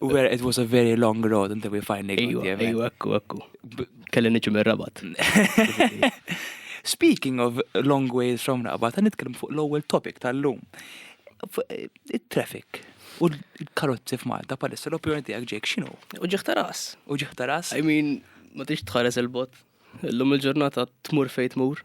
Where it was a very long road until we finally got there. Ejju, ekku, ekku. Kelli niġi minn rabat. Speaking of long ways from rabat, ta' nitkellem fuq l-ewwel topic tal-lum. Eh, il-traffic u l-karozzi f'Malta palissa l-opinjoni tiegħek ġejk x'inhu? U ġieħ taras. U ġieħ taras. I mean, ma tix tħares il-bot. L-lum il-ġurnata tmur fejt mur.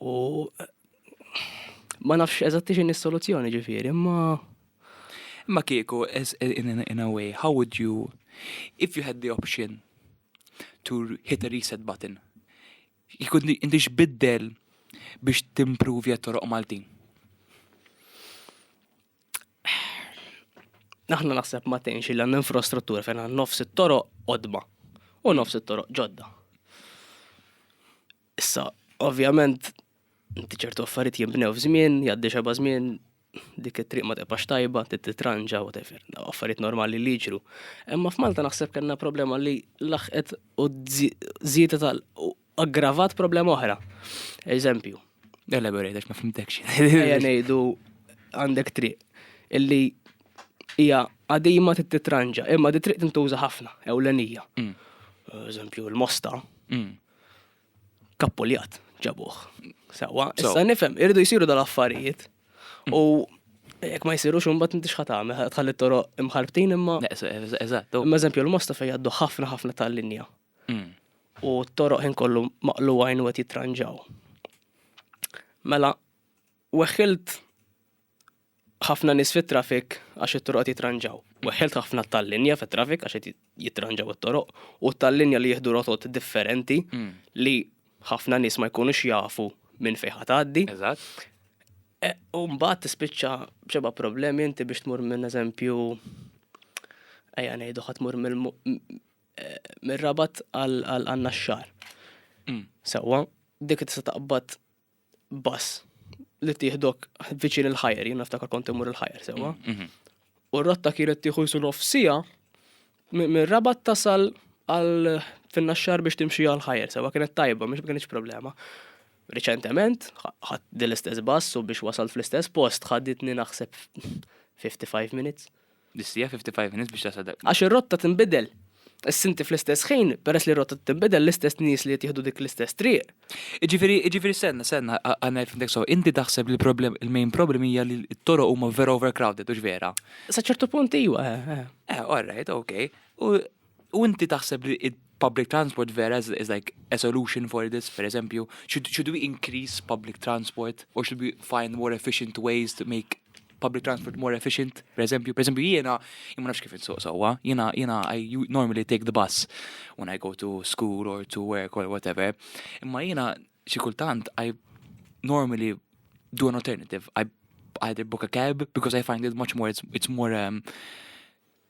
U ma nafx eżatti x'inhi s-soluzzjoni ġifieri, imma Imma kieku, in a way, how would you, if you had the option to hit a reset button, kieku inti x'biddel biex timprovja toroq Maltin? Aħna naħseb ma tgħinx il infrastruttura fejn nofs it-toroq qodma u nofs it-toroq ġodda. Issa, ovvjament, inti ċertu affarijiet jinbnew f'żmien, jgħaddi xeba żmien, dik it-triq ma tibqax tajba, titranġa, whatever, affarijiet normali li jiġru. Imma f'Malta naħseb kellna problema li laħqet u żiedet tal aggravat problema oħra. Eżempju. Elaborate, għax ma fimtekx. Ejja ngħidu għandek triq illi hija għadima titranġa, imma di triq tintuża ħafna, ewlenija. Mm. Eżempju, l-mosta. Mm. kappuljat ġabuh. Sewa, issa nifhem, irridu jsiru dal-affarijiet. Mm. U jekk ma jsirux imbagħad inti x'ħa tagħmel, tħalli toroq imħarbtin imma. Eżatt. Imma eżempju l-mosta fejn jgħaddu ħafna ħafna tal-linja. Mm. U t-toroq ħin kollu maqlu għajn u qed jitranġaw. Mela, Weħħilt ħafna nies fit-traffic għax it-toroq qed jitranġaw. Weħħilt ħafna tal-linja fit-traffic għax qed jitranġaw it-toroq u tal-linja li jieħdu rotot differenti hmm. li ħafna nies ma jkunux jafu minn fejn ħatgħaddi. Eżatt. E, u mbagħad tispiċċa b'xeba problemi inti biex tmur minn eżempju ejja ngħidu ħadd tmur e, mir-rabat għal għandna x-xar. Mm. Sewwa, dik tista' taqbad bus li tieħdok viċin il-ħajer, jien naftakar kont imur il-ħajer sewa. Mm, mhm. U r-rotta kienet tieħu jisu nof sija mir rabat tasal għal finna xar biex timxi għal ħajer sewa kienet tajba, mhux kienx problema. Reċentement, ħadd l-istess bass u biex wasal fl-istess post ħadditni naħseb 55 minutes. Distija 55 minutes biex tasal dak. Għax ir-rotta tinbidel. Issa inti fl-istess ħin, peress li r-rotta tinbidel, l-istess nies li qed jieħdu dik l-istess triq. Jiġifieri, jiġifieri stenna, stenna, għal ngħid fimtek sew, inti taħseb li l-problem, il-main problem hija li t-toroq huma vera overcrowded, hux vera? Sa ċertu punt iwa, eh, eh. Eh, all right, okay. U U inti taħseb li public transport vera is, is like a solution for this, for example, should, should we increase public transport or should we find more efficient ways to make public transport more efficient, per eżempju, per eżempju jiena, imma nafx kif insuq sewwa, jiena, jiena, I normally take the bus when I go to school or to work or whatever, imma jiena xi kultant I normally do an alternative, I either book a cab because I find it much more, it's, it's more um,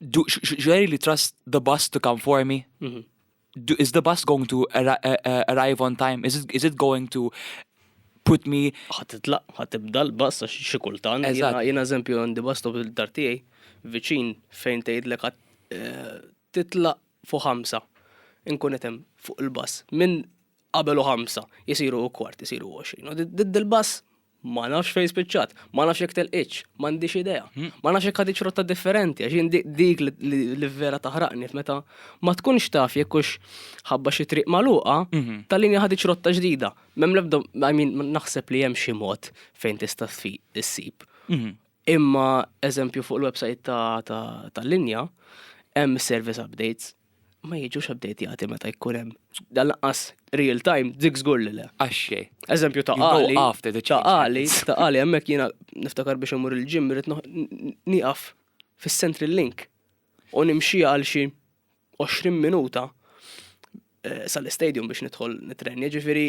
do, really trust the bus to come for me? Mm -hmm. do, is the bus going to ar uh, uh, arrive on time? Is it, is it going to put me. ħatitlaq, ħatibda l-bus għax xi kultant. Jiena eżempju għandi bus stop il-dar tiegħi viċin fejn tgħidlek eh, titlaq fuq ħamsa. Inkun qed hemm fuq il-bus. Minn qabel u ħamsa jisiru u kwart, jisiru 20. Did il-bus Ma nafx fejn spiċċat, ma nafx jekk telqitx, m'għandix idea. Hmm. Ma nafx jekk ħadiċ rotta differenti, għax dik li vera taħraqni meta ma tkunx taf jekk hux ħabba xi triq magħluqa, mhm. tal-linja ħadiċ rotta ġdida. Mem lebda, I mean, naħseb li hemm xi mod fejn tista' issib. Mhm. Imma eżempju fuq il-website tal-linja, hemm service updates ma jiġux updateati meta jkun hemm. Dan laqqas real time dik żgur li le. Għaxxie. Eżempju ta' għali. After the change. Ta' għali, ta' għali hemmhekk jiena niftakar biex imur il-ġim irid nieqaf fis-Central Link u nimxi għal xi 20 minuta eh, sal-istadium biex nidħol nitrenja, ġifieri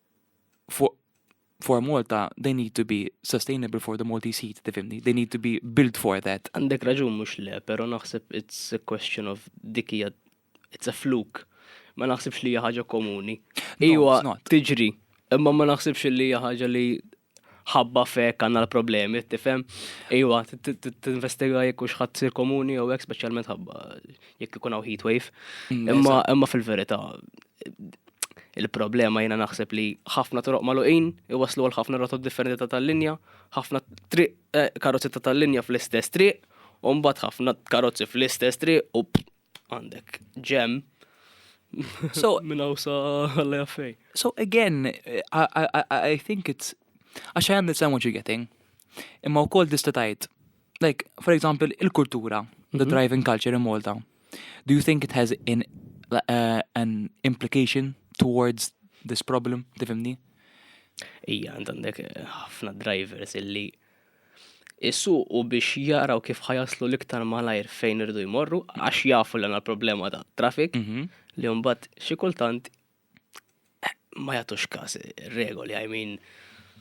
for, for Malta, they need to be sustainable for the Maltese heat, tifimni, they need to be built for that. Għandek raġun mux le, pero naħseb it's a question of dikija, it's a fluke. Ma naħsibx li ħaġa komuni. Iwa, tiġri, imma ma naħsibx li ħaġa li ħabba fek għanna l-problemi, tifhem? Iwa, t-investiga jekk u xħat sir komuni jew hekk speċjalment ħabba jekk ikun hawn heat wave. Mm, imma imma fil-verità il-problema jiena naħseb li ħafna toroq maluqin iwaslu għal ħafna rotot differenti ta' tal-linja, ħafna triq eh, karozzi ta' tal-linja fl-istess triq, u mbagħad ħafna karozzi fl-istess triq u Għandek ġem. So, minn għawsa għalli għaffej. So again, I, I, I think it's, għax I understand what you're getting. Imma u kol distatajt, like, for example, il-kultura, the mhm. driving culture in Malta. Do you think it has in, uh, an implication towards this problem, tifimni? Ija, għandek eh, ħafna drivers illi isuqu biex jaraw kif ħa jaslu l-iktar malajr fejn irridu jmorru għax jafu li għandna problema ta' traffic mhm. li mbagħad xi kultant ma jagħtux każ regoli, I mean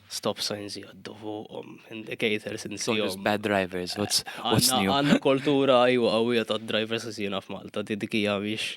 stop signs jaddu fuqhom, indicators insihom. Bad drivers, what's, what's new? Għanna kultura għajwa għawija ta' drivers jisina f'Malta, didikija biex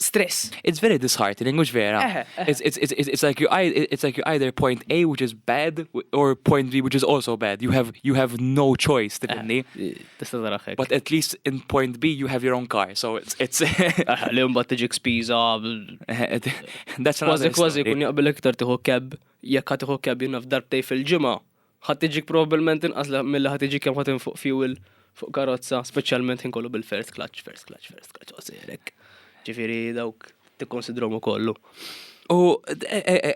stress. It's very disheartening, mhux vera. It's, it's, it's, it's, like you, it's like you either point A, which is bad, or point B, which is also bad. You have, you have no choice, tifinni. But at least in point B, you have your own car, so it's... it's Li mbagħad tiġi spiża. That's another Kważi kważi kun jaqbel iktar tiħu keb, jekk ħad tiħu keb jinnaf darbtej fil-ġimgħa. Ħadd iġik probabbilment inqas milli ħadd iġik kemm ħadd infuq fuel fuq karozza, speċjalment ħin kollu bil-first clutch, first clutch, first clutch, osirek. Ġifieri dawk tikkonsidrom ukollu. U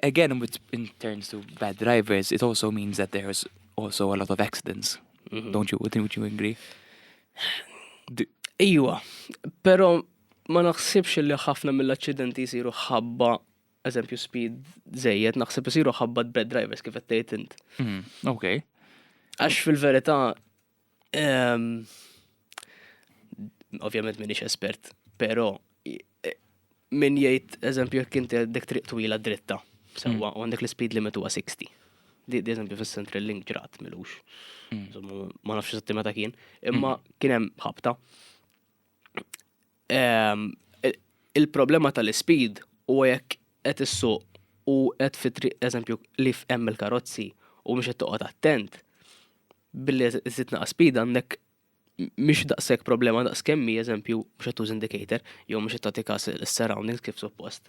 again, with, in terms of bad drivers, it also means that there's also a lot of accidents. Mm -hmm. Don't you, would you agree? Iwa, pero ma naħsibx li ħafna mill-accidenti jisiru ħabba eżempju speed zejjed, naħseb isiru ħabbat bad drivers kif qed tgħid int. Mm, ok. Għax fil-verità ehm, ovvjament minix espert, però eh, min jgħid eżempju jekk inti għandek triq twila dritta, sewwa mm. u għandek l-speed limit huwa 60. Di eżempju fis-Central Link ġrat milux. Mm. Ma nafx eżatti meta kien, imma kien hemm ħabta. Ehm, il-problema tal-ispid u jekk qed issuq u qed fitri eżempju li f'hemm il-karozzi u mhux qed toqgħod attent billi żid naqas speed għandek mhix daqshekk problema daqs kemmi eżempju mhux qed tuż indicator jew mhux qed tagħti kas is-surroundings kif suppost.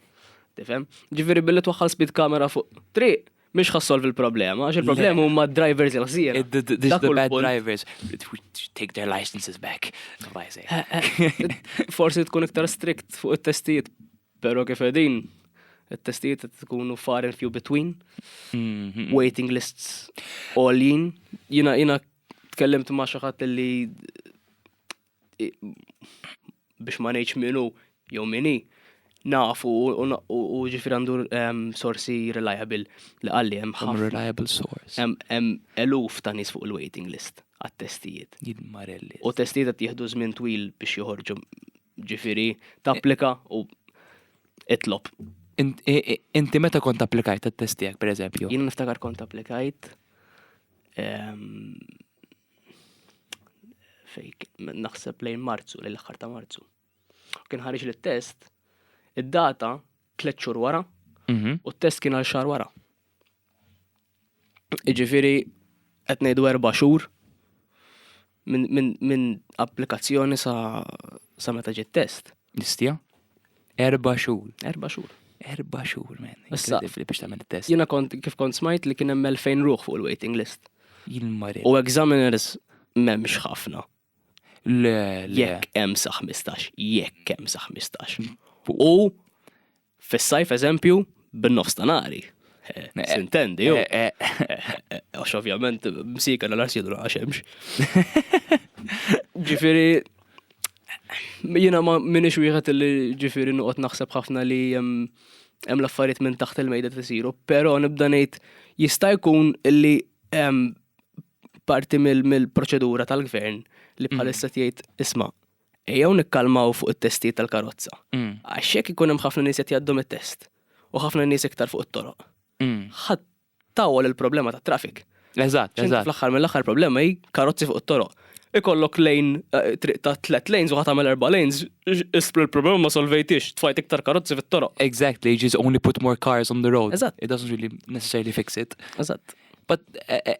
Tifhem? Ġifieri billi twaħħal speed kamera fuq triq Mhix ħa solvi l-problema, għax il-problema huma d-drivers il-ħsier. Dak bad drivers. Take their licenses back. Eh, eh, forsi tkun iktar strict fuq it-testijiet, pero kif edin, it-testijiet tkunu far and few between, mhm. waiting lists all in. Jina, jina tkellimt ma xaħat li biex ma ngħidx minu jew mini nafu u ġifir għandu sorsi reliable li għalli hemm ħafna. Reliable source. Hemm eluf ta' nies fuq il-waiting list għat-testijiet. Jidmarelli. U testijiet qed jieħdu żmien twil biex joħorġu ġifiri tapplika u itlob. Inti meta kont applikajt għat-testijak, per eżempju? Jien niftakar kont applikajt fejk naħseb lejn Marzu, lejn l-aħħar ta' Marzu. Kien ħareġ li test id-data tliet xhur wara mhm. u t-test kien għal xahar wara. Iġifiri, qed ngħidu erba' xhur minn applikazzjoni sa meta ġiet test. L-istja? Erba xhur. Erba xhur. Erba xhur, men. Issa, biex tagħmel test. Jiena kont kif kont smajt li kien hemm 2000 ruħ fuq il-waiting list. Jilmari. U examiners m'hemmx ħafna. Le, le. Jekk hemm sa 15, jekk hemm sa 15. U Fis-sajf eżempju, bin-nofs ta' nari. Eh, eh, Sintendi, ju. Eh, għax ovvjament, msika l arsidu għax hemmx. Ġifiri, jina ma minix wieħed li ġifiri nuqot naħseb ħafna li hemm l-affarijiet minn taħt il-mejda tisiru, però nibda ngħid jista' jkun li parti mill-proċedura tal-gvern li mm. bħalissa tgħid isma' Ejjew nikkalmaw fuq it-testijiet tal-karozza. Għax jekk ikun hemm ħafna nies qed jgħaddu mit-test u ħafna nies iktar fuq it-toroq, ħadd tawwal il-problema tat-traffic. Eżatt, eżatt. Fl-aħħar mill-aħħar problema hi karozzi fuq it-toroq. Ikollok lejn eh, triq ta' tliet lanes u ħadd tagħmel erba' lanes, isblu l-problema ma solvejtix, tfajt iktar karozzi fit-toroq. Exactly, just only put more cars on the road. Eżatt. It doesn't really necessarily fix it. Eżatt. But eh, eh,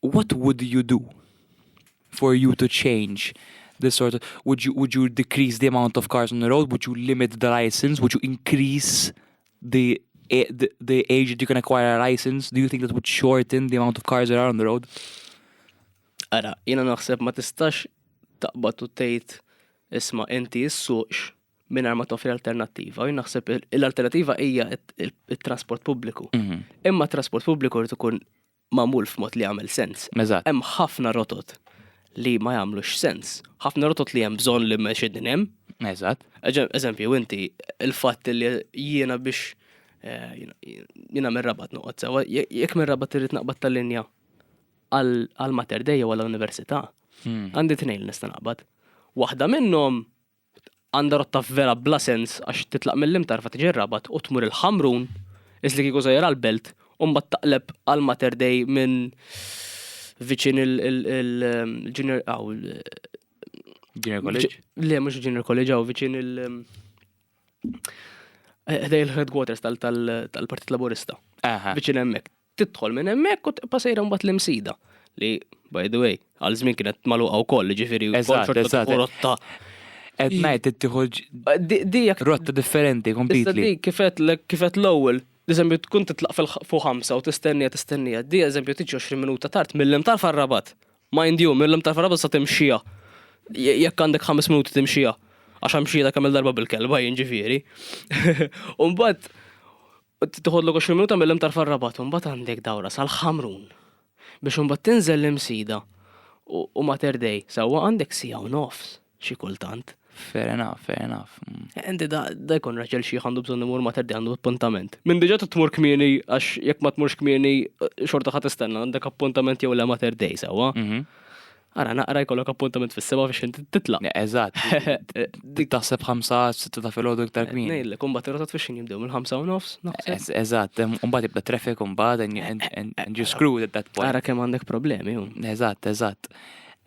what would you do for you to change this sort of, would you, would you decrease the amount of cars on the road, would you limit the license, would you increase the the, the age that you can acquire a license, do you think that would shorten the amount of cars that are on the road? Ara, jena naħseb ma tistax taqbad u tgħid isma' inti issuqx minn ma toffri alternattiva. Jien naħseb l-alternattiva hija il-trasport pubbliku. Mhm. Imma trasport pubbliku rrid ikun magħmul f'mod li jagħmel sens. Eżatt. Hemm ħafna rotot li ma jagħmlux sens. Ħafna rotot li hemm bżonn li mmexxi din hemm. Eżatt. Eġe- Eżempju, inti il-fatt li jiena biex eh, jiena- jiena minn rabat noqgħod sewa, je- jekk minn rabat irrid naqbad tal-linja għal għal Mater Dei jew għall-Università, Hmm. għandi tnejn li nista' naqbad. Waħda minnhom Għandha rotta vera bla sens għax titlaq mill-Imtarfa tiġi r-Rabat u tmur il-Ħamrun, is li kieku sejjer għall-Belt, u mbagħad taqleb għal Mater Dei minn viċin il-Junior hawn il Junior College? Le, mhux il-Junior College hawn viċin il- Ħdej il-headquarters tal-Partit Laburista. Viċin hemmhekk. tidħol minn hemmhekk u tibqa' sejra mbagħad l-Imsida li by the way għal żmien kienet magħluqa wkoll, jiġifieri wkoll rotta Qed ngħid ittieħu dijak rotta differenti kompletely. Dik kifet kifet l-ewwel Eżempju, tkun titlaq fuq ħamsa u tistennija tistennija. Di eżempju tiġi 20 minuta tard mill-lem tal-farrabat. Mind you, mill-lem tal-farrabat sa timxija. Jekk għandek 5 minuti timxija. Għax għamxija ta' kamil darba bil-kelba jinġifieri. Umbat, Tieħodlok 20 minuta mill-Imtar far-Rabat u mbagħad għandek dawra sal-Ħamrun biex imbagħad tinżel l-Imsida u Mater Dei sewwa għandek siegħa u nofs xi kultant. Fair enough, fair enough. Mm. Eh, inti da jkun raġel xi għandu bżonn imur ma terdi għandu appuntament. Minn diġà tmur kmieni għax jekk ma tmurx kmieni eh, xorta ħadd istenna għandek appuntament jew le ma terdej sewwa. Mhm. Ara naqra jkollok appuntament fis-seba biex inti titla'. Eżatt. Dik taħseb ħamsa sitta ta' filgħodu iktar kmin. Ngħidlek, imbagħad ir-rotot fiex jinbdew mill-ħamsa u nofs, naħseb. Eżatt, imbagħad jibda traffic imbagħad and you screwed at that point. Ara kemm għandek problemi. Eżatt, eżatt.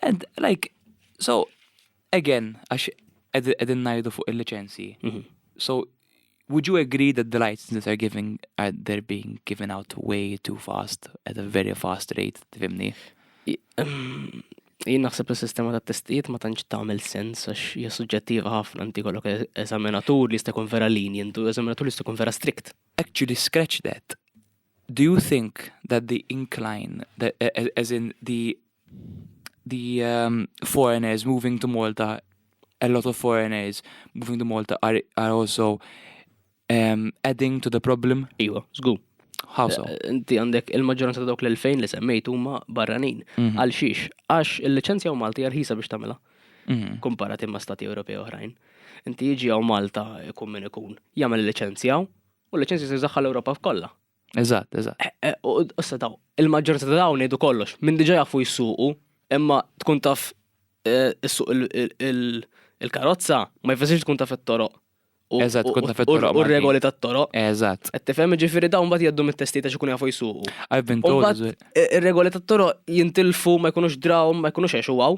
And like, so, Again, għax qegħdin ngħidu fuq il-liċenzji. Mhm. So, would you agree that the licenses are giving are they're being given out way too fast at a very fast rate, tifhimni? Ehm, jien naħseb li sistema ta' testijiet ma tantx tagħmel sens għax hija suġġettiva ħafna inti kollok e- eżaminatur li jista' jkun vera linjent u eżaminatur li jista' jkun vera strict. Actually scratch that. Do you think that the incline, that, as in the the um, foreigners moving to Malta, a lot of foreigners moving to Malta are, are also um, adding to the problem? Iwa, zgu. How so? Eh, inti għandek il-maġġoranza ta' dawk l-2000 li semmejt huma barranin. Mhm. Għal xiex? Għax il-liċenzja u Malti jarħisa biex tagħmilha. Mhm. Komparatim ma' stati Ewropej oħrajn. Inti jiġi għaw Malta ikun min ikun. Jagħmel il-liċenzja U l-liċenzji se jżaħħa l-Ewropa f'kollha. Eżatt, eżatt. Eh, eh, u issa daw, il-maġġoranza ta' dawn jgħidu kollox, minn diġà jafu jsuqu, imma tkun taf eh, issuq il-karozza ma jfessirx tkun taf it-toroq. Eżatt, tkun taf it-toroq. U regoli tat-toroq. Eżatt. Qed tifhem ġifieri dawn mbagħad jgħaddu mit-testi ta' xikun jafu jsuqu. I've been told. Ir-regoli tat-toroq jintilfu ma jkunux draw, ma jkunux għexu għaw,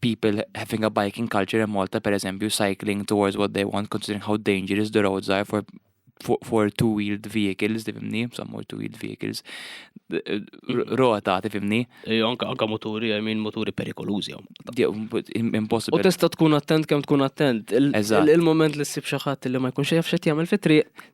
people having a biking culture in Malta, per eżempju, cycling towards what they want, considering how dangerous the roads are for for, for two-wheeled vehicles, tifimni, some more two-wheeled vehicles, mm-hmm. rota, tifimni. Anka, anka moturi, I mean, moturi perikolużi. Impossible. U testa tkun attent kem tkun attent. Il-moment li s-sib xaħat li ma jkunx jaf xet jgħamil fitri,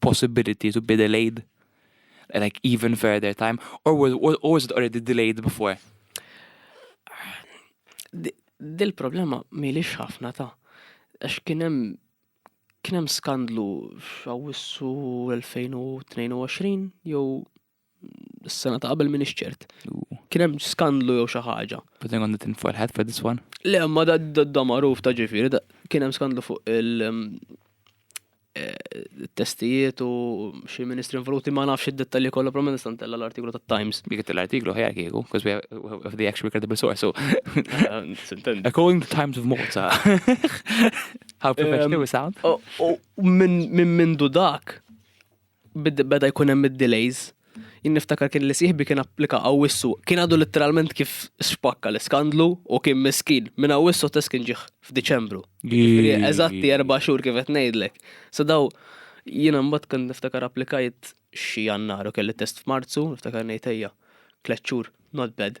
possibility to be delayed like even further time or was, or was it already delayed before? Dil-problema milix ħafna ta' għax kienem kienem skandlu f'Awwissu 2022 jew Is-sena ta' qabel minix ċert. Kien hemm skandlu jew xi ħaġa. But then għandha tinforħet for this one. Le, ma da da magħruf ta' ġifieri, da- kien hemm skandlu fuq il- um, eh, testijiet u xi ministri involuti ma nafx id-dettalji kollha però ma nista' ntella l-artiklu tat-Times. Dik l-artiklu ħajja kieku, because we have, we have the actual credible source, so Eh, Sintendi. according to Times of Malta. How professional we sound. U- u Minn minn mindu dak, beda jkun hemm id-delays, jien niftakar kien li sieħbi kien applika Awwissu, kien għadu litteralment kif spakka l-iskandlu u kien miskin, minn Awwissu test kien ġie f'Diċembru. Jiġifieri eżatti erba' xhur kif qed ngħidlek. So daw jiena mbagħad kont niftakar applikajt xi Jannar u kelli test f'Marzu, niftakar ngħid ejja, tliet xhur, not bad.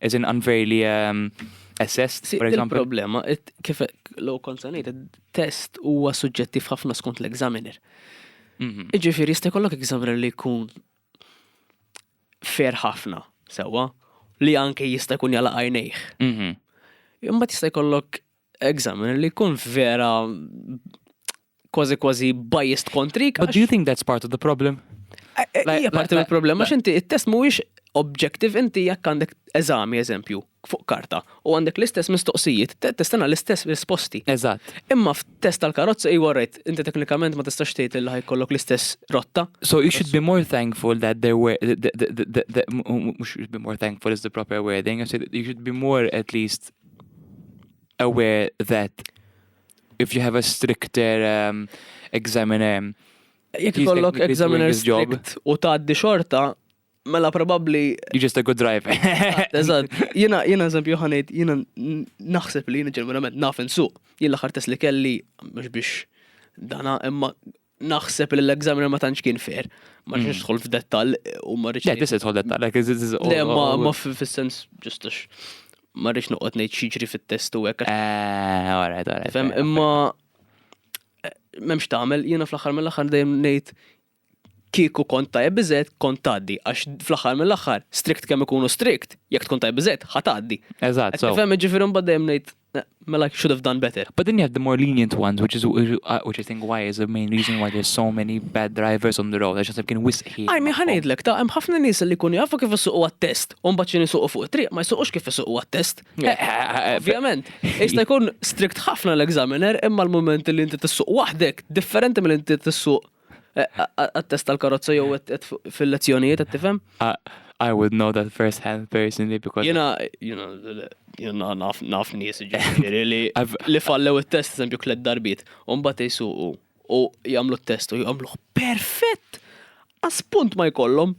As in unfairly um, assessed, for example. Il-problema, kif l-għu konsanajt, test huwa suġġettiv ħafna skont l-examiner. Mhm. Iġifiri, jista' jkollok examiner li jkun fair ħafna, sewa, li anke jista' jkun jala għajnejħ. Mhm. Imma jista' jkollok examiner li jkun vera kważi kważi biased kontrik. But do you think that's part of the problem? Eh, eh, hija parti mill-problema għax inti it-test mhuwiex objective inti jekk għandek eżami eżempju fuq karta u għandek l-istess mistoqsijiet, testana l-istess risposti. Eżatt. Imma f'test tal-karozza i warrejt, inti teknikament ma tistax tgħid li ħajkollok l-istess rotta. So you should be more thankful that there were mhux should be more thankful is the proper wording, you should be more at least aware that if you have a stricter um, examiner, Jekk he's ikollok technically examiner doing his job. strict u tgħaddi xorta, mela probabbli you're just a good driver. Eżatt, jiena jiena eżempju ħanejt jiena n- naħseb li jiena ġeneralment naf insuq. Jien l-aħħar test li kelli mhux biex dana imma naħseb li l-examiner ma tantx kien fair. Ma mm. rridx nidħol f'dettall u ma rridx. Le, tista' tidħol dettall, like is is Le, ma ma fis-sens ġust għax ma rridx noqgħod ngħid xiġri fit-test u hekk. Eh, alright, alright. Fem, imma eh, m'hemmx tagħmel, jiena fl-aħħar mill-aħħar dejjem ngħid kieku kont tajb biżed kont tgħaddi għax fl-aħħar mill-aħħar strict kemm ikunu strict, jekk tkun tajb biżed ħatgħaddi. Eżatt. Fem, ġifieri mbagħad dejjem ngħid Mela should have done better. But then you have the more lenient ones, which is uh, which I think why is the main reason why there's so many bad drivers on the road. Għax għasab kien wisqi. Għajmi ħanajdlek ta' hemm ħafna nies li kun jafu kif isuqu għat-test, u mbagħad xi isuqu fuq it-triq ma jsuqux kif isuqu għat-test. Eh, eh, eh, Ovvjament, jista' jkun strict ħafna l-examiner imma l-moment li inti tissuq waħdek differenti mill inti tissuq Għat-test tal-karozza jew fil-lezzjonijiet, qed tifhem? I would know that first hand personally because Jena, jena, jena naf, naf nies ġifieri li li fallew it-test eżempju tliet darbiet, u mbagħad jsuqu u jagħmlu t-test u jagħmluh perfett. Għas punt ma jkollhom.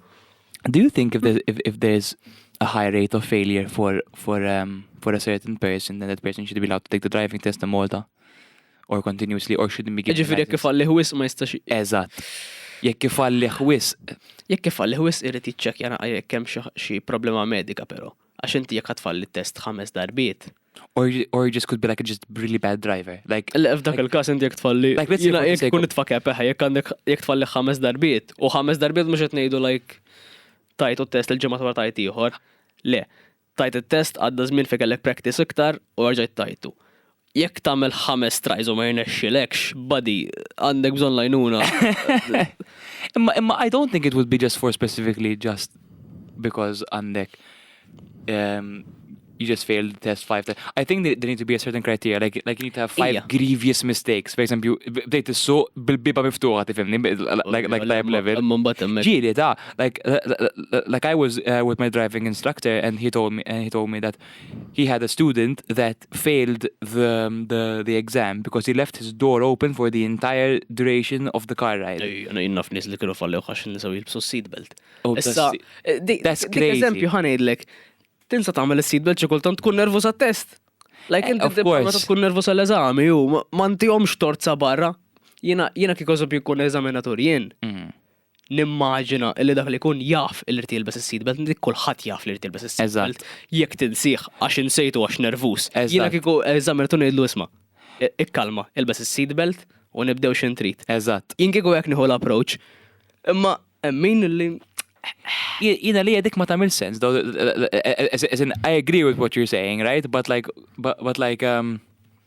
Do you think if there's, if, if there's a high rate of failure for for um, for a certain person, then that person should be allowed to take the driving test in Malta? or continuously or shouldn't be given. Ġifiri jekk ifalli wisq ma jistax. Eżatt. Jekk ifalli wisq. Jekk ifalli wisq irid jiċċekkja naqa' jekk hemm xi problema medika però. Għax inti jekk tfalli test ħames darbiet. Or, or just could be like just really bad driver. Like Le f'dak il-każ inti jekk tfalli. Like let's say jekk tkun itfa' kepeħ eh, jekk għandek jekk tfalli ħames darbiet u ħames darbiet mhux qed ngħidu like tajt u test il-ġimgħa wara tajt ieħor. Le, Tajt it-test, għadda żmien fejn kellek practice iktar u erġajt tajtu. Jekk tagħmel ħames tries u ma jirnexxilekx, buddy, għandek bżonn l-għajnuna. Imma imma I don't think it would be just for specifically just because għandek um, you just failed the test five times. I think there need to be a certain criteria, like, like you need to have five Ija. grievous mistakes. For example, bdejt is-suq bil-biba miftuħa, tifimni, like, like type level. Mumbat emmek. Ġili, ta' like like I was uh, with my driving instructor and he told me and he told me that he had a student that failed the um, the the exam because he left his door open for the entire duration of the car ride. Jena jinnaf nis li kienu fallew għax nisaw jilbsu seatbelt. Oh, Issa, eh, di- that's dik crazy. eżempju ħanejdlek, tinsa tagħmel is-seatbelt xi kultant tkun nervu sa test. Like Eh, inti of tibqa' meta course. tkun nervu sal-eżami, u ma- ma ntihomx tort sa barra. Jiena jiena kieku eżempju jkun eżaminatur jien. Mm. Nimmaġina li dak li jkun jaf li jrid jilbes is-seat belt, dik kulħadd jaf li jrid jilbes is-seat belt. Eżatt. Jekk tinsih għax insejtu għax nervuż. Eżatt. Jiena kieku eżaminaturi ngħidlu isma', ikkalma, ilbes is-seat belt u nibdew x'int trid. Eżatt. Jien kieku hekk nieħu l-approach. Imma hemm min li Jien għalija dik ma tagħmilx sens, though, as in I agree with what you're saying, right? But like, but like, um,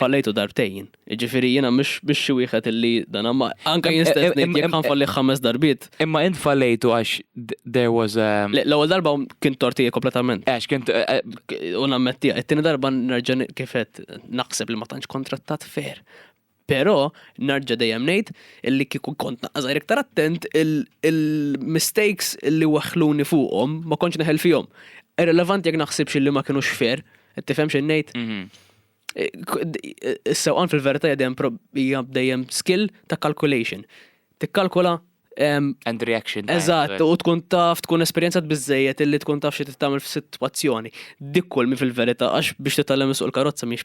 Fallejtu darbtejn. Ġifiri jena mux biex xi wieħed illi dan ma. Anka jien stess ngħid jekk ħanfalli ħames darbiet. Imma int fallejtu għax there was a L-ewwel darba kien tortija kompletament. Għax kien u nammettija, it-tieni darba nerġa' kifet naħseb li ma tantx kontrattat fair. Pero, narġa dejjem ngħid illi kieku kont naqqa żgħir iktar attent il-mistakes illi weħħluni fuqhom ma kontx neħel fihom. Irrelevanti jekk naħsibx illi ma kienux fair, qed tifhem x'in ngħid? Mhm. Is-sewqan fil-verità hija dejjem prob- hija dejjem skill ta' calculation. Tikkalkula em, And reaction. time. Eżatt, u tkun taf, tkun esperjenzat biżejjed illi tkun taf xi tagħmel f'sitwazzjoni. Dik kull mi fil-verità, għax biex titgħallem issuq il-karozza mhix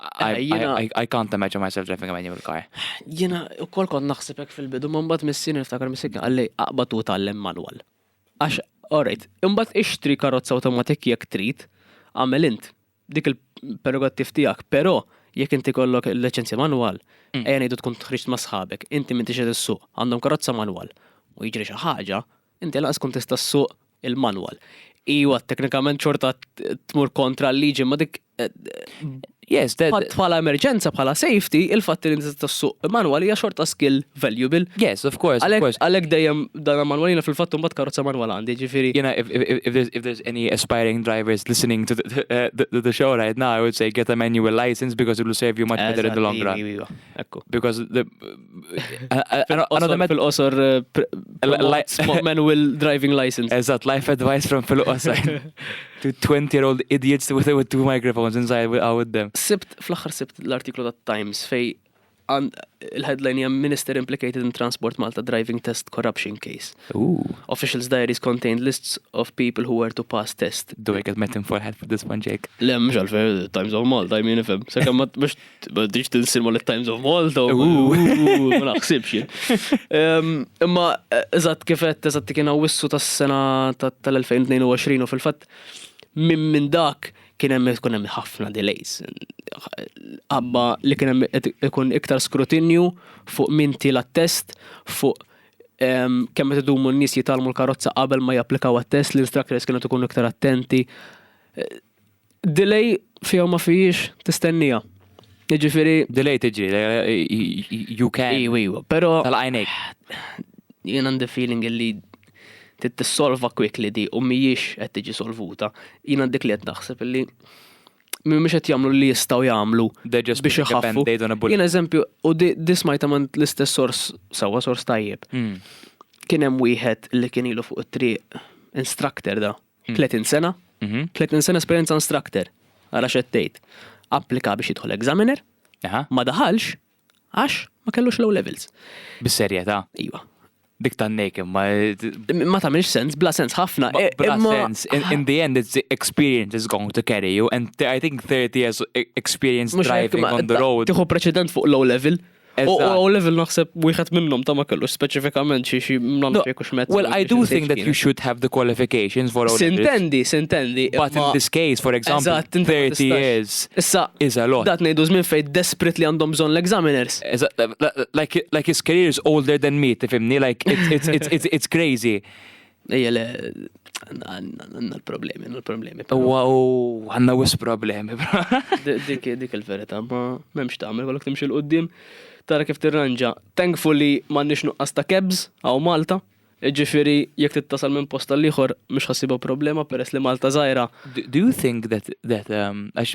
I, I, I, I can't imagine myself driving a manual car. Jena, u kol kon naħsibek fil-bidu, man bat missin niftakar missin għalli aqbatu tal-lem manual. Għax, alright, imbat ixtri karozza automatik jek trit, għamel int, dik il-prerogattiv tijak, pero jek inti kollok il-licenzja manual, mm. ejja nejdu tkun tħriġt ma sħabek, inti minti xed s-suq, għandhom karozza manual, u jġri xaħġa, Inti lanqas tkun tista' ssuq il-manwal. Iwa, teknikament xorta tmur kontra l-liġi, ma dik Yes, that... Bħala emerġenza, bħala safety, il-fatt li inti tassuq manwal hija xorta skill valuable. Yes, of course, of course. Għalek dejjem dan manwal jina fil-fatt mbagħad karozza manwal għandi, ġifieri. Jena, if, if, if, there's, if there's any aspiring drivers listening to the, uh, the, the show right now, I would say get a manual license because it will serve you much better in the long run. Because the, Fil-qosor eh, manual driving license. Eżat, life advice from fil-qosor. To 20 year old idiots with, with two microphones inside with them. Sibt, fl-axar sibt l-artiklu ta' Times fej il-headline hija Minister implicated in Transport Malta driving test corruption case. Ooh. Officials diaries contained lists of people who were to pass test. Do I get met in for help with this one, Jake? Le, mhux għalfejn Times of Malta, I mean ifhem. Sakemm mhux Bħaddiġ tilsil ma l-Times of Malta, ma naħsibx jien. Imma, eżat kifet, eżat kien għawissu tas sena tal-2022 u fil-fat minn min dak kien hemm ikun hemm ħafna delays. Abba li kien hemm ikun iktar skrutinju fuq min tila test fuq kemm qed idumu n-nies jitalmu l-karozza qabel ma japplikaw għat-test, l-instructors kienu tkun iktar attenti. Delay fija u ma fijiex tistennija. Jiġifieri. Delay tiġi, you can. Iwa, iwa, pero. Tal-għajnejk. Jien għandi feeling li tissolva quickly di u mhijiex qed tiġi solvuta. Jien għandik li qed naħseb li mhumiex qed jagħmlu li jistgħu jagħmlu biex iħaffu. Jien eżempju, u di smajta man l-istess sors sewwa sors tajjeb. Hmm. Kien hemm wieħed li kien ilu fuq it-triq instructor da. 30 hmm. sena, 30 hmm. sena esperjenza instructor, għara xettejt, applika biex jidħol examiner, ma daħalx, għax ma kellux low levels. Bis-serjetà? Iva. Dik tan nejkem, ma. Ma tamilx sens, bla sens ħafna. E, bla sens, in the end, it's the experience is going to carry you, and I think 30 years e, experience driving on the road. Tiħu preċedent fuq low level. U għaw level naħseb wieħed minnhom ta' ma kellu speċifikament xi xi mnamx jekk hux mezz. Well, I do think that you should have the qualifications for all Sintendi, sintendi. But in this case, for example, 30 years issa is a lot. Dat ngħidu żmien fejn desperately għandhom bżonn l-examiners. Like, like his career is older than me, tifimni, like it's, it's, it's, it's, it's crazy. Ejja le, għanna l-problemi, għanna l-problemi. Uwa u għanna wis problemi. Dik il-verita, ma memx ta' għamil, għalok timxil qoddim, tara kif tirranġa. Thankfully, ma nix nuqqas ta' kebs, għaw Malta, ġifiri, jek t-tasal minn posta l-liħor, mux ħassiba problema, peress li Malta zaħira. Do you think that, that, um, għax,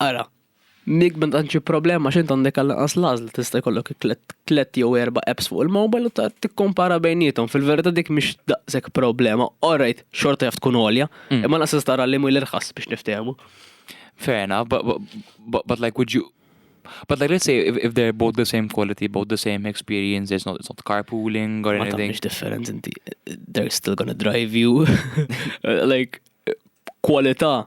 Ara, jekk m'għandekx xi problema għax int għandek għall-inqas l-għażla tista' jkollok tliet jew erba' apps fuq il-mobile u tikkumpara bejniethom. Fil-verità dik mhix daqshekk problema. Alright, xorta jaf tkun għolja, imma lanqas tista' tara liema hi l-irħas biex niftehmu. Fair enough, but like would you But like, let's say if, if they're both the same quality, both the same experience, it's not, it's not carpooling or anything. It's different, inti, they're still gonna drive you. like, kwalità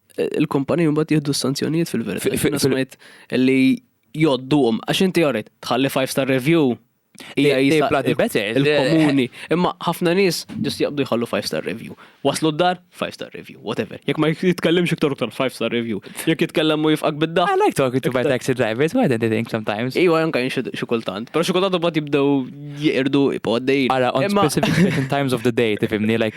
Il-kumpaniji mbagħad jieħdu s-sanzjonijiet fil-verità. Fil-smajt li joddum, għax inti għorit, tħalli 5 star review. Ija jibla di better. Il-komuni. Imma ħafna nis ġust jaqbdu jħallu 5 star review. Waslu d-dar, 5 star review, whatever. Jek ma jitkellim xiktar uktar 5 star review. Jek jitkellim u jifqak bidda. I like talking to my taxi drivers, why don't they think sometimes? Iwa janka jinxu xikultant. Pero xikultant u bat jibdew jirdu ipoddejn. Ara, on specific different times of the day, tifimni, like,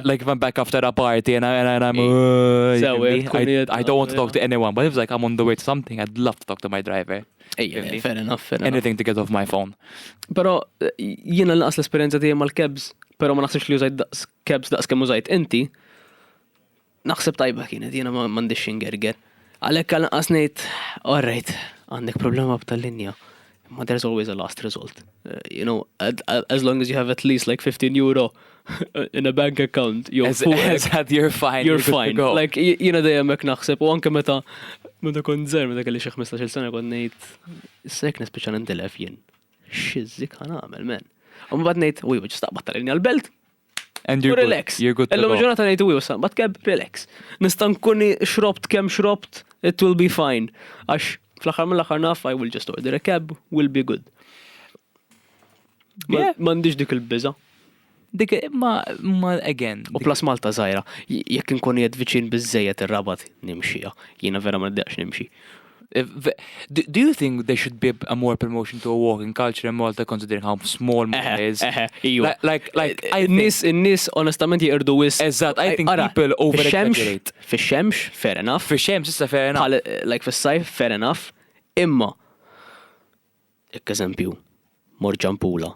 like if I'm back after a party and, I, and I'm, uh, I, I don't want to talk to anyone, but if like I'm on the way to something, I'd love to talk to my driver. Ejja, fair enough, fair enough. Anything to get off my phone. Pero, jiena l-naqas l-esperienza tiegħi mal-kebs, pero ma naħsibx li użajt kebs daqs kemm użajt inti, Naħseb tajba kienet, jiena m'għandix xingerger. Għalhekk għal anqas ngħid, all right, għandek problema b'tal-linja. Ma there's always a last result. Uh, you know, as long as you have at least like 15 euro in a bank account, you're as, as had you're fine. You're fine. Like, jina dejjem hekk naħseb, u anke meta meta kont zer, meta kelli xi 15 sena kont ngħid, sek nispiċċa nintilef jien. Xizzik għan għamel, men. U mbagħad ngħid, uj, biex staqbad tal-linja l-belt, And you're relax. You're good. Illum ġurnata ngħidu wi usan, but keb relax. Nista' nkun xrobt kemm xrobt, it will be fine. Għax fl-aħħar mill-aħħar naf I will just order a cab, will be good. M'għandix dik il-biża. Dik ma ma again. U plus Malta żgħira, jekk inkun jed viċin biżejjed ir-rabat nimxija. Jiena vera ma nibdaqx nimxi. Do you think there should be a more promotion to a walking culture in Malta considering how small Malta is? Like, like, I nis, nis, onestament jirdu wis. Eżat, I think people over exaggerate. Fi xemx, fair enough. Fi xemx, issa fair enough. Like, fi sajf, fair enough. Imma, ek eżempju, mor ġampula.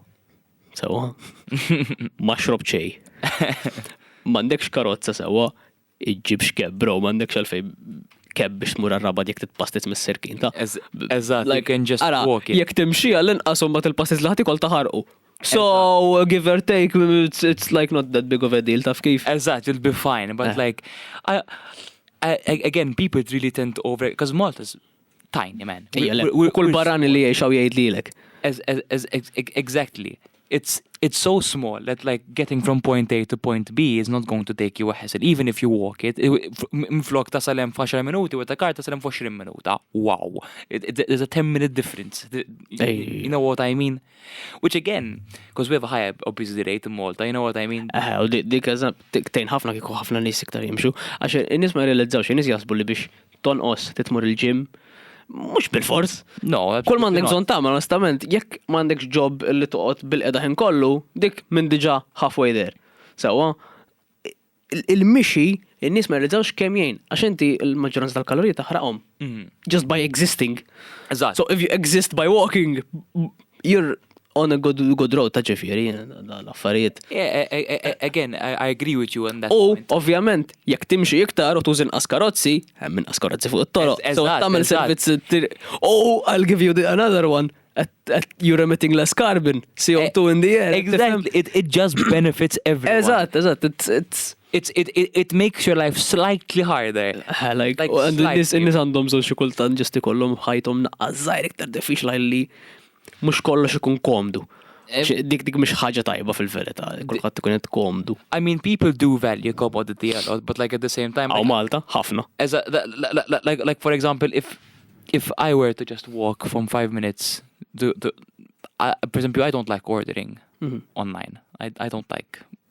Sewa? Ma xrob ċej. Mandekx karozza sewa. iġġibx keb bro, m'għandekx għalfejn keb biex tmur għar-Rabat jekk titpastit mis-sirkin ta'. Eżatt, like can just walk it. Jekk timxi għall-inqas u mbagħad il-pastis li ħadd ikol taħarqu. So, give or take, it's, it's like not that big of a deal, taf kif? Eżatt, you'll be fine, but eh. like, I, I, again, people really tend to over, because Malta's tiny man. Kull barani li jiexaw jgħid lilek. Exactly. It's, it's so small that like getting from point A to point B is not going to take you a hassle, even if you walk it. Mflok ta' salem f'10 minuti u ta' kar ta' salem f'20 minuta. Wow. There's a 10 minute difference. You know what I mean? Which again, because we have a high obesity rate in Malta, you know what I mean? Eh, u dik eżab, tejn ħafna kiku ħafna nis iktar jimxu. Għax, nis ma jirrealizzaw, nis jasbu li biex tonqos, trid tmur il-gym, mhux bil-fors. No, Kull ma għandek bżonn tagħmel onestament, jekk ma għandekx ġob li toqgħod bil-qeda ħin kollu, dik minn diġà halfway there. Sewwa, il-mixi, in-nies ma jirriżawx kemm jgħin, għax inti l-maġġoranza tal-kaloriji taħraqhom. Mhm. Just by existing. Eżatt. So if you exist by walking, you're On a good, good road ta' ġifiri, l-affarijiet. Again, I agree with you on that. U, ovvjament, jekk timxi iktar u tużin askarozzi, hemm minn askarozzi fuq it-toroq. So, tagħmel servizz. Oh, I'll give you another one. You're emitting less carbon, CO2 in the air. Exactly, it, it just benefits everyone. Eżatt, eżatt, it's, it's it's it, it, it makes your life slightly harder. Eh, like, like and nis nis għandhom żewġ kultant ġesti kollhom ħajthom naqqażżajr iktar diffiċli li mhux kollox ikun komdu. Dik dik mhux ħaġa tajba fil-verità, kulħadd ikun qed komdu. I mean, people do value commodity a lot, but like at the same time. Aw Malta, ħafna. Like for example, if if I were to just walk from five minutes, to, to, I, for example, I don't like ordering mm -hmm. online. I, I don't like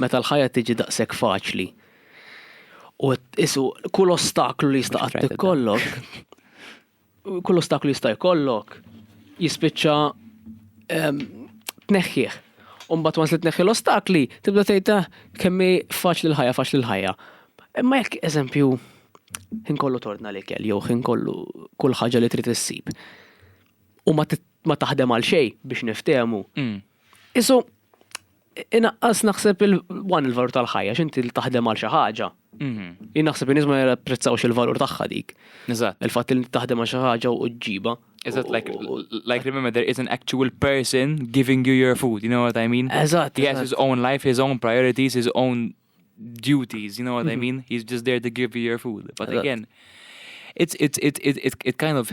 Meta l-ħajja tiġi daqshekk faċli u isu kull ostaklu li jista' qatt ikollok, kull ostaklu jista' jkollok jispiċċa ehm, tneħħih. Umbat wans li tneħħi l-ostakli, tibda tgħid ah, kemmi faċli l-ħajja, faċli l-ħajja. Imma jekk eżempju, ħin kollu torna li kell, jew ħin kollu kull ħaġa li trid issib. U ma taħdem għal xej biex niftehmu. Mm. Isu, Inaqqas naħseb il-wan il-valur tal-ħajja, x'inti li taħdem għal xi ħaġa. Mhm. Jien naħseb in-nies ma japprezzawx il-valur tagħha dik. Eżatt. Il-fatt li taħdem għal xi ħaġa u ġġibha. Eżatt, like, like remember, there is an actual person giving you your food, you know what I mean? Eżatt. He has his own life, his own priorities, his own duties, you know what I mean? He's just there to give you your food. But Eżatt. again, it's, it's, it, it, it, it kind of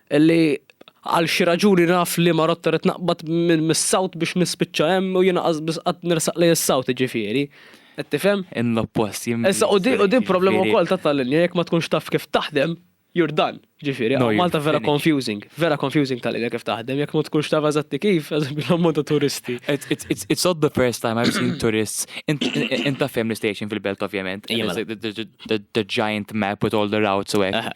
Li għal xi raġuni naf liema rotta rrid naqbad minn mis-sawt biex nispiċċa hemm u jiena qas biss qatt nersaq lejn is-sawt jiġifieri. Qed tifhem? In l-oppost jien. Issa u din u din problema wkoll ta' tal-linja jekk ma tkunx taf kif taħdem you're done. Jiġifieri hawn Malta vera confusing. Vera confusing tal-linja kif taħdem jekk ma tkunx taf eżatti kif, eżempju l-ammont ta' turisti. It's not the first time I've seen tourists int taf fejn l-istation fil-belt ovvjament. The giant map with all the routes u hekk.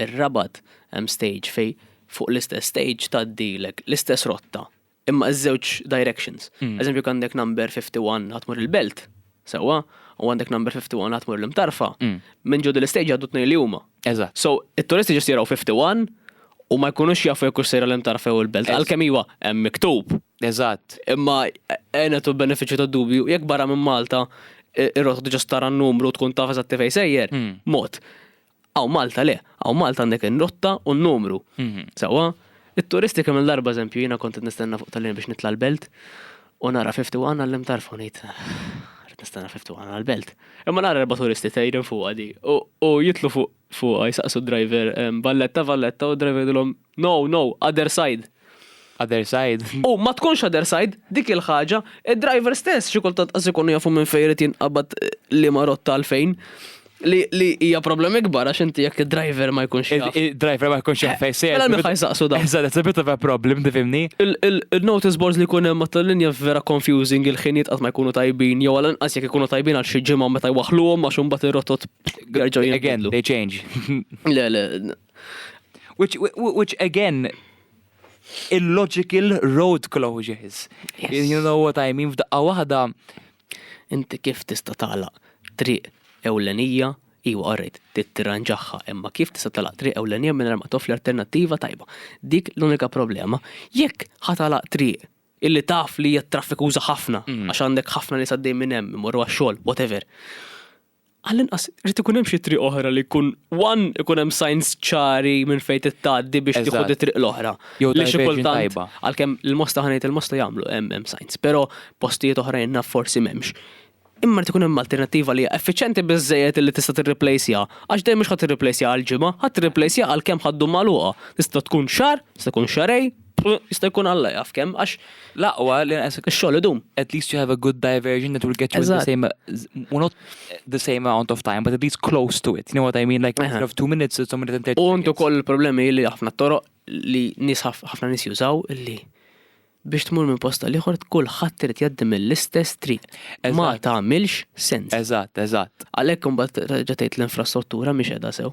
ir-Rabat hemm stage fejn fuq l-istess stage tgħaddilek l-istess rotta imma ż-żewġ directions. Eżempju jekk għandek number 51 ħa tmur il-Belt, sewwa, u għandek number 51 ħa tmur l-Imtarfa, minn ġo din l-istage jgħaddu t-tnejn li huma. Eżatt. So, it-turisti just jaraw 51 u ma jkunux jafu jekk hux sejra l-Imtarfa jew il-Belt, għalkemm iva, hemm miktub. Eżatt. Imma għenet u benefiċċju tad-dubju, jekk barra minn Malta ir-rotta eh, diġà stara n-numru u tkun taf eżatti fejn sejjer, hmm. mod. Aw Malta le, aw Malta għandek in-rotta u n-numru. Hmm. Sewwa, it-turisti kemm il-darba eżempju jiena kont nistenna fuq tal-lin biex nitla' l-belt u nara 51 għallim tarfu ngħid nistenna 51 għal-belt. Imma nara erba' turisti tgħidin fuq għadi u jitlu fuq fuq jisaqsu driver valletta valletta u driver dilhom No, no, other side. Other side. U ma tkunx other side, dik il-ħaġa, id-driver stess xi kultant qas ikunu jafu minn fejn irid jinqabad liema rotta għal fejn. Li li hija problem ikbar għax inti jekk id-driver ma jkunx jaf. Id-driver ma jkunx jaf fejn se. Mela minn ħaj saqsu dan. Eżatt, it's a bit of a problem, tifhimni? Il-notice boards li jkun hemm matul linja vera confusing, il-ħiniet qatt ma jkunu tajbin, jew għal inqas jekk ikunu tajbin għal xi ġimgħa meta jwaħħluhom għax imbagħad ir-rotot jerġgħu jinbidlu. Again, they change. Le, le, Which, which again, illogical road closures. Yes. You know what I mean, f'daqqa waħda. Inti kif tista' tagħlaq triq ewlenija Iwa, għarrejt, tittiranġaħħa, imma kif tista' talaq triq ewlenija minn ma toffri alternattiva tajba. Dik l-unika problema. Jekk ħatalaq triq illi taf li hija traffikuża ħafna, mm. għax għandek ħafna li saddej minn hemm, imorru għax-xogħol, whatever. Għall-inqas irid ikun hemm xi triq oħra li jkun one ikun hemm signs ċari minn fejn tittgħaddi biex tieħu t-triq l-oħra. Jew diversion tajba. Għalkemm il-Mosta ħa ngħid il-Mosta jagħmlu hemm hemm signs, però postijiet oħrajn naf forsi m'hemmx. Imma rid ikun hemm alternattiva li hija effiċjenti biżżejjed li tista' tirriplejsja. Għax dejjem mhux ħa tirriplejsja għal ġimgħa, ħa tirriplejsja għalkemm ħa ddum magħluqa. Tista' tkun xahar, tista' tkun xahrejn. U jista' jkun Alla jaf kemm, għax l-aqwa li naqsek ix-xogħol idum. At least you have a good diversion that will get you in the Eżatt. same, well not the same amount of time, but at least close to it. You know what I mean? Like, instead of two minutes, it's a minute and 30 U intu seconds. koll il-problemi li ħafna toroq li nies ħaf- ħafna nies jużaw li biex tmur minn posta l-ieħor kulħadd irid jgħaddi mill-istess triq. Ma Eżatt. tagħmilx sens. Eżatt, eżatt. Għalhekk imbagħad terġa' tgħid l-infrastruttura mhix qiegħda sew.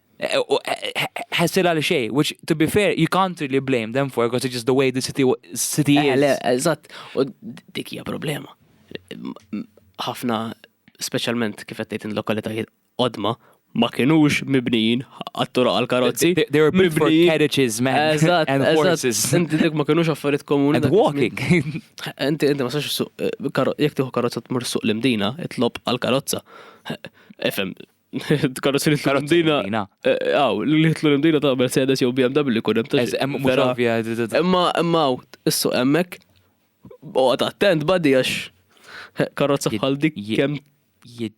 ħessir għal xej, which to be fair, you can't really blame them for because it's just the way the city, city eh, is. Eżatt, u dik hija problema. ħafna, specialment kif qed in lokalitajiet odma, ma kienux mibnijin għattura għal-karozzi. They were built for carriages, man. And horses. Inti dik ma kienux affarijiet komuni. And walking. Inti, inti ma sax, eh, jek tiħu karozza t-mur suq l-imdina, it-lob għal-karozza. Efem, Karozzi li tlu l-imdina. Aw, eh, li tlu l-imdina ta' Mercedes jew BMW kun hemm ta' hemm mhux Imma imma issu hemmhekk oqgħod attent badi għax eh, karozza bħal dik kemm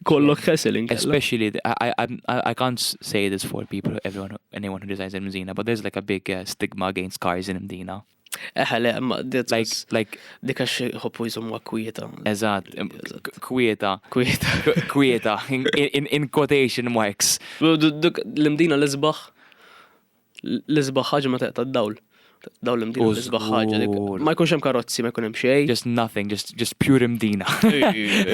kollok hassling. Especially, I, I, I can't say this for people, everyone, anyone who designs in Mdina, but there's like a big uh, stigma against cars in Mdina. Eħe, le, ma dit. Like, like. Dika xie hoppu jizum ma kwieta. Eżat, kwieta. Kwieta. Kwieta, in quotation marks. Duk l-imdina l-izbaħ, l-izbaħ ħagġa ma teqta d-dawl. Dawl l-imdina l-izbaħ ħagġa. Ma jkunx hemm karozzi, ma jkun hemm xej. Just nothing, just, just pure imdina.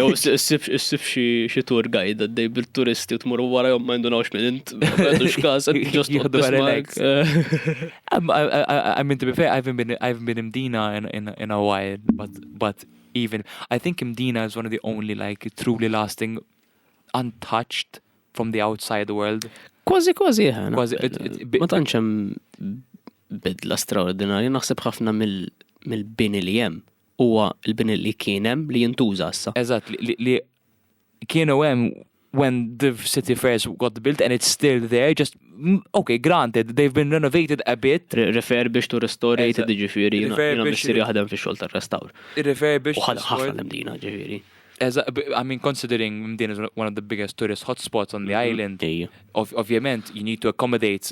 Issib xie tour guide għaddej bil-turisti u tmur wara jom ma jindunawx minn int. Għadu xkas, just jgħadu għarelek. I mean, to be fair, I haven't been, I haven't been imdina in, in, in a while, but, but even, I think imdina is one of the only, like, truly lasting, untouched from the outside world. Kważi, kważi, ħana. Eh, kważi, eh, ma tanċem bidla straordinarja, naħseb ħafna mill-bini li jem, huwa l-bini li kienem li jintuża issa. Eżat, li kienu hemm when the city fairs got built and it's still there, just, okay, granted, they've been renovated a bit. Refurbished u restorated, ġifiri, jina missir jaħdem fi xol tal-restawr. Refurbished. U ħafna l-mdina, ġifiri. I mean, considering Mdin is one of the biggest tourist hotspots on the island, ovvjament, you need to accommodate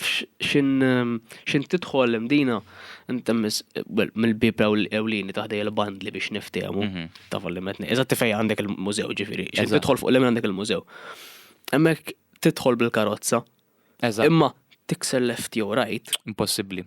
X'int tidħol imdina, intemmis, well, mill-bib ewlieni taħdej il-bandli biex niftehmu, mhm. ta' fallimetni. Eżatt tifej għandek il-mużew ġifiri, x'int tidħol fuq l-emin għandek il-mużew. Emmek tidħol bil-karozza. Eżatt. Imma tikser left jew right. Impossibbli.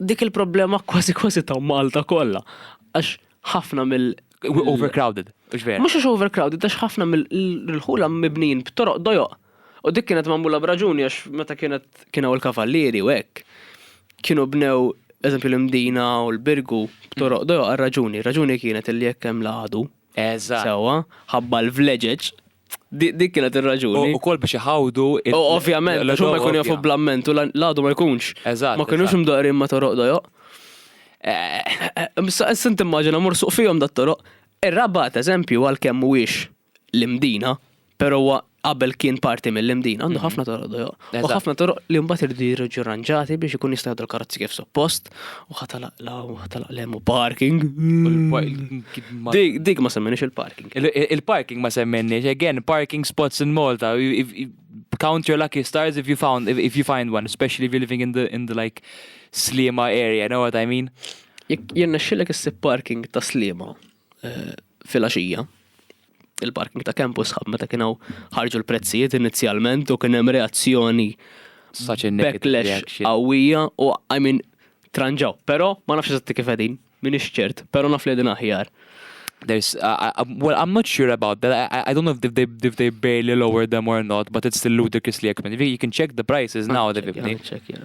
Dik il-problema kważi kważi ta' Malta kollha. Għax ħafna mill- Overcrowded, mhux vera. Mhux għax overcrowded, għax ħafna mill-ħula mibnijin b'toroq dojoq. U dik kienet magħmula b'raġuni għax meta kienet kien hawn il-kavallieri u hekk, kienu bnew, eżempju l-Imdina u l-Birgu b'toroq dojoq għal raġuni. Raġuni kienet illi jekk hemm l-għadu, sewwa, ħabba l-vleġeġ Dik kienet ir-raġuni. U kol biex iħawdu. U ovvjament, għax ma jkun jafu blamment u l-għadu ma jkunx. Eżatt. Ma kienux mdaqrin ma toroq dojoq. Sint immaġina mur suq fihom dat toroq. Ir-rabat, eżempju, għal kemm mhuwiex l-imdina, pero qabel kien parti mill-imdina, għandu mhm. ħafna toroq dojoq. U ħafna toroq li mbagħad irdu jirġu ranġati biex ikun jista' jgħaddu l-karozzi kif suppost u ħatalaq law u ħatalaq lem u parking. Dik dik ma semmenix il-parking. Il-parking ma semmenix, again, parking spots in Malta. Count your lucky stars if you found if you find one, especially if you're living in the in the like Slima area, know what I mean? Jekk jirnexxilek issib parking ta' Slima. eh, filgħaxija il-parking ta' campus ħab meta kienu ħarġu l-prezzijiet inizjalment u kien hemm reazzjoni backlash qawwija u I mean tranġaw. Però ma nafx eżatti kif qegħdin, min ċert, però naf li din aħjar. There's, uh, uh, well, I'm not sure about that. I, I don't know if they, if they barely lower them or not, but it's still ludicrously expensive. You can check the prices now, definitely. Check, yeah.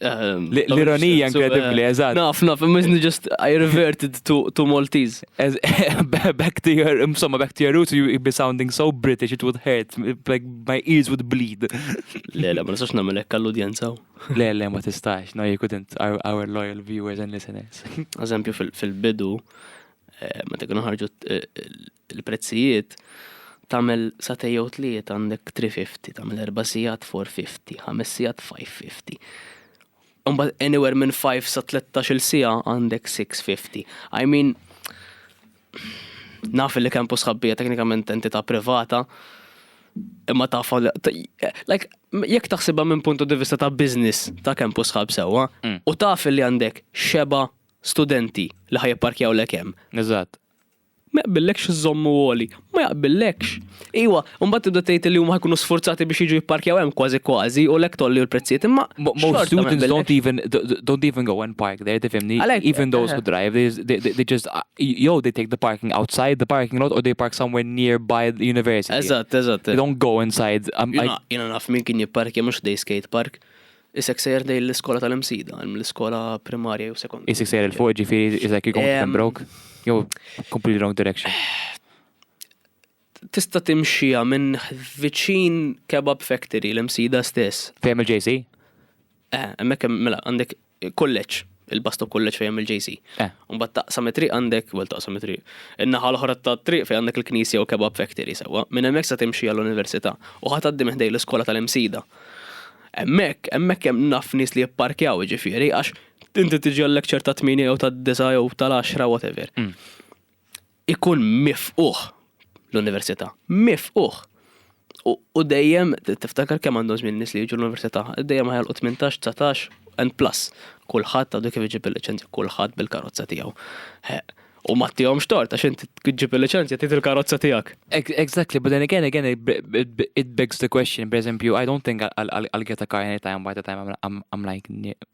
Ehm, L-ironija inkredibbli, eh, eżatt. Naf, naf, immiżni just I reverted to, to Maltese. back to your, insomma, back to your roots, you'd be sounding so British, it would hurt, like my ears would bleed. Le, le, ma nistax namel ekka l-udjenza. Le, le, ma tistax, no, you couldn't, our, our loyal viewers and listeners. Eżempju, fil-bidu, eh, ma tekun ħarġu eh, il-prezzijiet tagħmel sagħtej jew tlieta għandek 350, tagħmel erba' sigħat 450, ħames sigħat 550. Imbagħad anywhere minn 5 sa 13-il siegħa għandek 650. I mean naf li kempu sħabbija teknikament entità privata, imma taf like jekk taħsibha minn puntu di vista ta' business ta' kempu sħab sewwa u taf li għandek xeba studenti li ħajparkjaw lek hemm. Eżatt. Ma jaqbillekx iżżommu għoli. Ma jaqbillekx. Iwa, u mbagħad tibda tgħid li huma ħa jkunu sfurzati biex jiġu jipparkjaw hemm kważi kważi u lhekk tgħolli l-prezzijiet imma Most students don't even don't even go and park there tifhimni? Even those who drive they they just jew they take the parking outside the parking lot or they park somewhere nearby the university. Eżatt, eżatt. They don't go inside. Jiena naf min kien jipparkja mhux ħdej skate park. Isek sejjer lejn l-iskola tal-imsida, l-iskola primarja jew sekondarja. Isek sejjer il-fuq ġifiri isek jkun Pembroke, jew completely wrong direction. Tista timxija minn viċin kebab factory l-imsida stess. Fejem il-JC? Eh, emmek mela għandek kolleċ. il-Basto College fejn hemm il-JC. Eh. Mbagħad taqsam it-triq għandek, well taqsam it-triq. In-naħa l-oħra tat-triq fejn għandek il-Knisja u Kebab Factory sewwa. Minn hemmhekk sa timxi għall-Università u ħadd għaddi minn ħdej l-iskola tal-Imsida. Hemmhekk, hemmhekk hemm naf nies li jipparkjaw ġifieri għax inti tiġi għal-lecture ta' 8 jew ta' 9 jew tal-10 whatever. Mm. ikun mifqugħ l-università, mifqugħ! U dejjem tiftakar kemm għandhom żmien nies li jiġu l-università, dejjem ħajalqu 18, 19 and plus. Kulħadd għadu kif iġib il-liċenzja, kulħadd bil-karozza tiegħu. U ma tihomx tort għax inti tġib il-liċenzja trid il-karozza tiegħek. Exactly, but then again, again, it begs the question, per eżempju, I don't think I'll get a car anytime by the time I'm, I'm, I'm like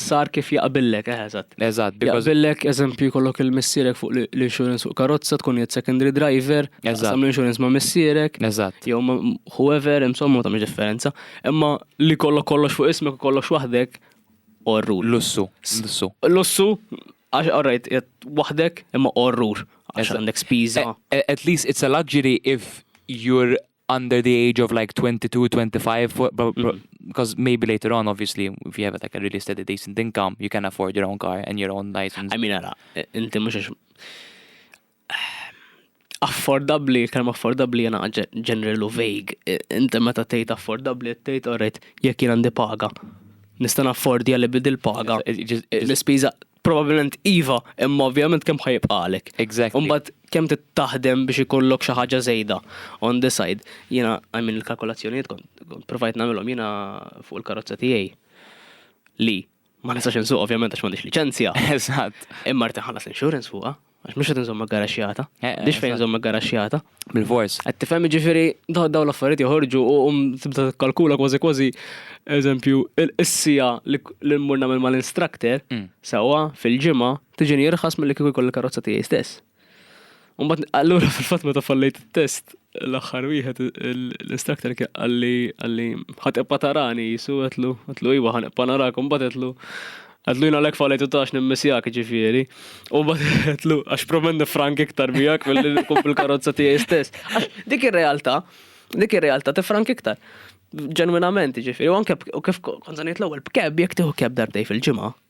sar kif jaqbillek, eħe eżatt. Eżatt, because. Jaqbillek, eżempju, jkollok il-missierek fuq l-insurance fuq karozza, tkun jgħid secondary driver, eżatt, tagħmel insurance ma' missierek, eżatt, jew ma' whoever, insomma, ma tagħmilx differenza, imma li jkollok kollox fuq ismek u kollox waħdek, orrur. Lussu, lussu. Lussu, għax orrejt, waħdek, imma orrur, għax għandek spiża. At least it's a luxury if you're under the age of like 22, 25, for, because mm. maybe later on, obviously, if you have like a really steady, decent income, you can afford your own car and your own license. I mean, ara, inti mux affordabli, kalma affordabli jena ġenerali u vague. Inti meta tejt affordabli, tejt orrit, jek jena ndi paga. Nistan affordi għalli bidil paga. L-spiza Probabilment iva, imma ovvjament kemm ħa jibqa' għalek. Exactly. U mbagħad kemm trid taħdem biex ikollok xi ħaġa żejda on the side. Jiena I mean il-kalkolazzjonijiet kont provajt nagħmilhom jiena fuq il-karozza tiegħi li ma nistax insuq ovvjament għax m'għandix liċenzja. Eżatt. Imma rrid inħallas l-insurance fuqha, Għax mhux qed inżomm garaxxjata. Eh, eh, Biex fejn nżomm garaxxjata. Bil-fors. Qed tifhem jiġifieri dawn l-affarijiet joħorġu u um, tibda tikkalkula kważi kważi eżempju is-sija li mmur nagħmel mal-instructor mm. sewwa fil-ġimgħa tiġini jirħas milli kieku jkolli karozza tiegħi stess. Umbat allura fil-fatt meta fallejt it-test l-axħar wieħed l-instructor għalli għalli ħatibqa tarani jisu għetlu għetlu iwa ħanibqa narakom bat għetlu għetlu jina l-ek falajtu tax nimmisjak ġifiri u bat għetlu għax promen frank iktar bijak mill-kum bil-karozza tijaj stess dik il-realta dik il-realta tifrank iktar ġenwinament ġifiri u anke kif konzaniet l-ewel b'keb jek tiħu keb darbtej fil-ġimgħa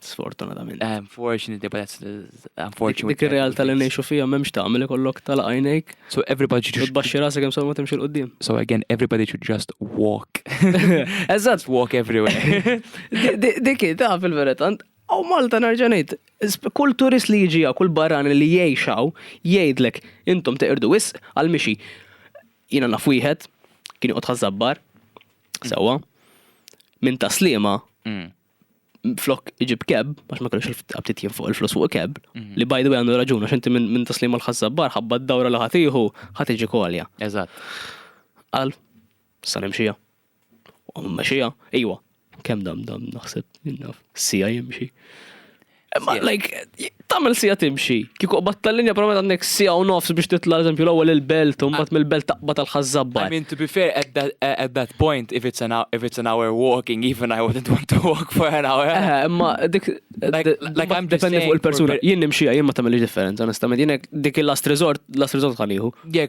Sfortunatament. Eh, unfortunately, but that's unfortunately. Dik ir-realtà li ngħixu fija m'hemmx tagħmel ikollok tal għajnejk. So everybody should tbaxxi rasek hemm ma timxi l-qudiem. So again, everybody should just walk. Eżatt. Walk everywhere. Dik ta' fil-verità Aw Malta nerġa' ngħid, kull turist li jiġi kull barrani li jgħixaw jgħidlek intom teqirdu wis għal mixi. Jiena naf wieħed kien joqgħod ħażabbar sewwa minn taslima mm. flok iġib keb, għax ma kellux il-ftit jien fuq il-flus fuq keb, mhm. li by the way għandu raġuna, xinti minn taslim għal-ħazzabbar, ħabba d-dawra li ħatiħu, ħatiġi kolja. Eżat. Għal, sa nimxija. U mxija, iwa, kem dam dam naħseb, innaf, sija jimxi. Ma like, tamil sija timxi. Kiku qbat tal-linja promet għandek sija u nofs biex titla l-eżempju l-ewwel il-belt u mbagħad mill-belt taqbad tal-ħazzabba. I mean, to be fair, at that, at that point, if it's, an, if it's an hour walking, even I wouldn't want to walk for an hour. Eh, eh ma dik, like, like I'm dependi fuq il-persuna. Jien nimxija, jien ma tamil differenza, onestament. Jien dik il-last resort, last resort ħaniħu. Yeah,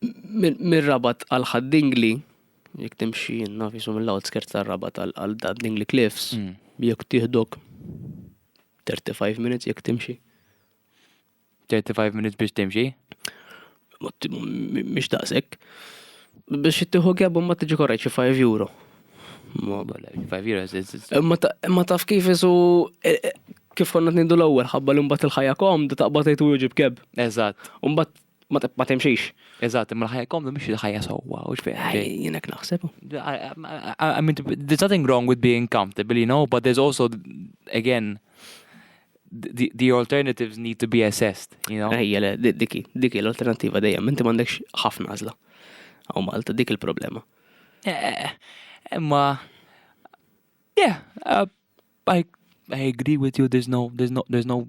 Mir-Rabat għal Ħad Dingli, jekk timxi naf jisu mill-outskirts tar-Rabat għal Ħad Dingli Cliffs, mm. jekk tieħdok 35 minutes jekk timxi. 35 minutes biex timxi? Mhix daqshekk. Biex tieħu għabu ma tiġi korrejt xi 5 euro. Ma bala, 5 euro. Ma taf kif isu e, e, kif konna t-nindu l-ewwel ħabba li mbagħad il-ħajja komda taqbad tgħid wieġib keb. Eżatt. Mbagħad ma timxix. Eżatt, imma l-ħajja komdu mhix il-ħajja sewwa, u x'fejn. Jienek naħseb. I mean, there's nothing wrong with being comfortable, you know, but there's also, again, the, the alternatives need to be assessed, you know. Ejja, le, diki, diki l-alternativa dejjem, inti m'għandekx ħafna għażla. Għaw Malta, dik il-problema. Eh, imma, yeah, uh, I, I agree with you, there's no, there's no, there's no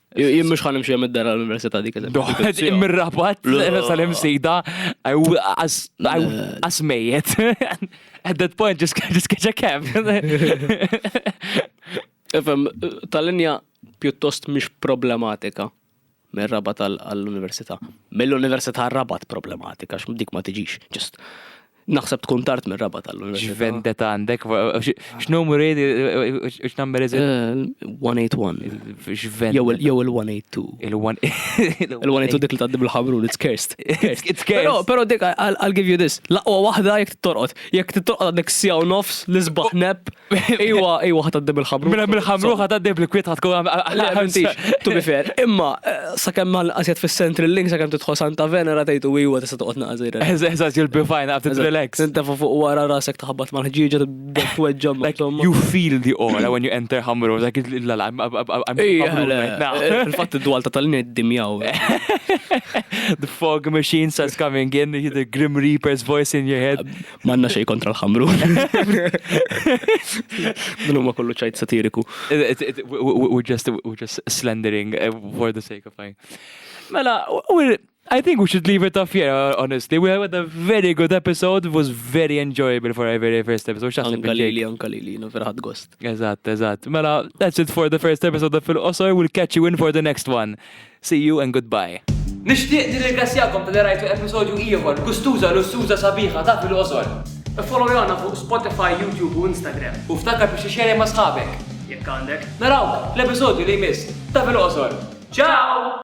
Jien mhux ħan imxi mid-dar għall-Università dik Doħed imrabat Jerusalem sejda għas mejjet. At that point just just catch a cab. Efem, tal-linja pjuttost mhix problematika mir-rabat għall-università. Mill-università rabat problematika, x'm dik ma tiġix, ġust. Naħseb tkun tard mir-raba tal-università. X'vendetta għandek? X'numru jgħid x'number is it? 181. Eh, X'vendetta. Jew il-182. Il-182 dik li tgħaddi bil-ħabrun, it's cursed. It's cursed. Però dik I'll give you this. Laqwa waħda jekk torqod. Jekk torqod għandek sjaw nofs, l-isbaħ nep. Iwa, iwa ħat għaddim il-ħamru. Mela mill-ħamru ħat għaddim il-kwiet ħat tkun għamil. Tu bifer, imma eh, sakemm mal qasjet fis-central link sakemm tidħol Santa Venera tgħidu iwa tista' toqgħod naqżir. Eżaż you'll be fine after the relax. Inta fuq wara rasek taħbat mal-ħġieġa tweġġa insomma. You feel the aura when you enter ħamru, dak il-lala. Il-fatt id-dwal ta' tal-nid dimjaw. The fog machine starts coming in, the Grim Reaper's voice in your head. Manna xej kontra l-ħamru. Dun huma kollu ċajt satiriku. We're just, we're just slandering eh, for the sake of fine. Mela, we're, I think we should leave it off here, uh, honestly. We had a very good episode. It was very enjoyable for our very first episode. Xaħseb Kalili, għan Kalili, no, verħad gost. Eżatt, eżatt. Mela, that's it for the first episode of Fil-Qosor. We'll catch you in for the next one. See you and goodbye. Nixtieq nirringrazzjakom talli rajtu episodju ieħor gustuża lussuża sabiħa ta' Fil-Qosor. Iffollowjana fuq Spotify, YouTube u Instagram u ftakar biex ixxerja ma' sħabek, jekk għandek. Narawk fl-episodju li jmiss ta' Fil-Qosor. Ciao!